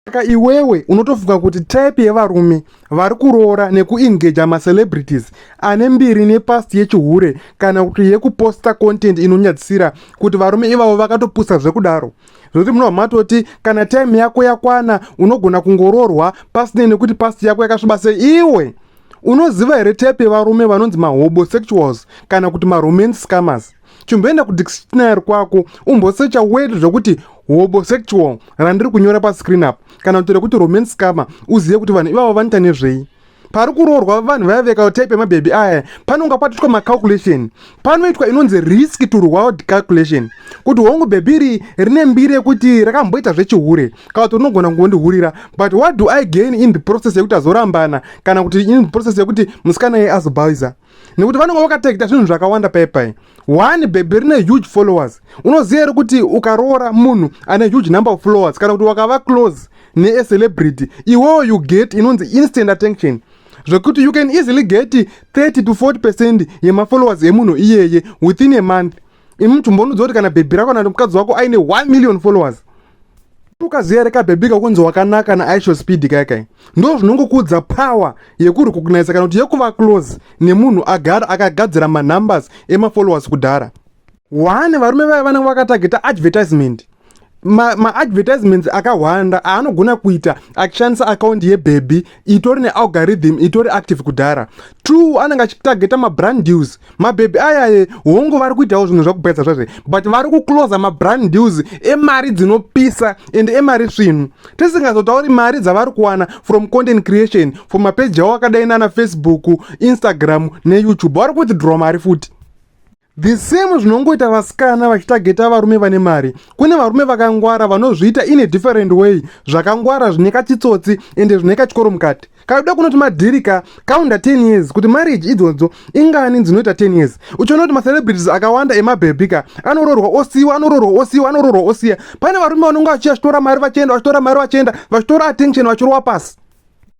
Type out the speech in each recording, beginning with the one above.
Saka iwewe unotofunga kuti type yevarume vari kuroora nekuengaja macelebrities ane mbiri nepast yechihure kana kuti yekuposta content inonyadzisira kuti varume ivavo vakatopusa zvekudaro zvekuti munobva matoti kana time yako yakwana unogona kungoroorwa pasinei nekuti past yako yakasviba sei iwe unoziva here type yevarume vanonzi mahobo sexuals kana kuti maromance scammers chimboenda kudictionary kwako umbosecha word zvekuti hobosexual randiri kunyora pascreen up kana kuti rekuti romance scammer uzive kuti vanhu ivavo vanoita nezvei pari kuroorwa vanhu vaya veka type yemabhebhi aya panonga patoitwa macalculation panoitwa inonzi risk to reward calculation kuti hongu bhebhi iri rine mbiri yekuti rakamboita zvechihure kana kuti rinogona kungondihurira but what do i gain in the process yekuti azorambana kana kuti in the process yekuti musikana iye azobhaiza nekuti vanenge vakataita zvinhu zvakawanda paipai one bhebhi rine huge followers unoziva here kuti ukaroora munhu ane huge number of followers kana kuti wakava close neecelebrity iwewo you get inonzi instant attention zvekuti you can easily get 30 to 40 percent yemafollowers emunhu iyeye within a month imi muchimbonudzwa kuti kana bhebhi rako kana kuti mukadzi wako aine 1 million followers ukaziva rekabhebika kunzi wakanaka naaisho speed kai kai ndo zvinongokudza power yekurecognisa kana kuti yekuva close nemunhu agara akagadzira manumbers emafollowers kudhara one varume vaya vanenge vakatageta advertisement maadvertisements ma akahwanda aanogona kuita achishandisa akaunti yebhebhi itori nealgorithm itori active kudhara two anenge achitargeta mabrand deals mabhebhi ayaye hongu vari kuitawo zvinhu zvakupedza zvazve but vari kuclosa mabrand deals emari dzinopisa and emari svinu tisingazotauri mari dzavari kuwana from content creation from mapeji avo akadai nana facebook instagram neyoutube vari kuwithdraw mari futi The same zvinongoita vasikana vachitageta varume vane mari. Kune varume vakangwara vanozviita in a different way zvakangwara zvine kachitsotsi ende zvine kachikoro mukati. Kakuda kunoti madhirika kaunda 10 years kuti marriage idzodzo ingani dzinoita 10 years. Uchiona kuti macelebrities akawanda emabhebhi ka anororwa osiwa anororwa osiwa anororwa osiya. Pane varume vanonga vachiya vachitora mari vachienda vachitora mari vachienda vachitora attention vachirowa pasi.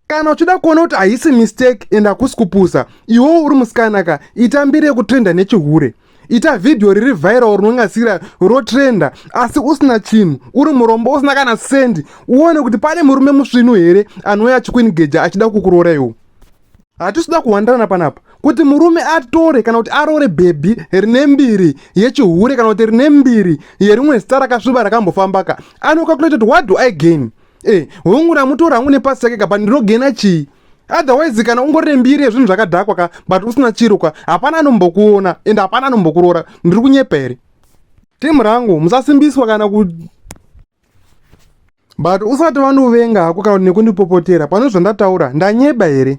kana uchida kuona kuti haisi mistake and hakusi kupusa iwewo uri musikanaka ita mbiri yekutrenda nechihure ita vhidhiyo riri viral rinongasira rotrenda asi usina chinhu uri murombo usina kana sendi uone kuti pane murume musvinu here anouya achikuinigeja achida kukuroora iwo hatisida kuwandirana panapa kuti murume atore kana kuti aroore bhebhi rine mbiri yechihure kana kuti rine mbiri yerimwe zita rakasviba rakambofambaka anokakuleta kuti what do i gain e hongu ramutora hangu nepasi take ka but ndinogena chii otherwise kana ungori nembiri yezvinhu zvakadhakwa ka but usina chiro ka hapana anombokuona and hapana anombokuroora ndiri kunyepa here timu rangu musasimbiswa kana ku but usati vanovenga hako kana nekundipopotera pane zvandataura ndanyeba here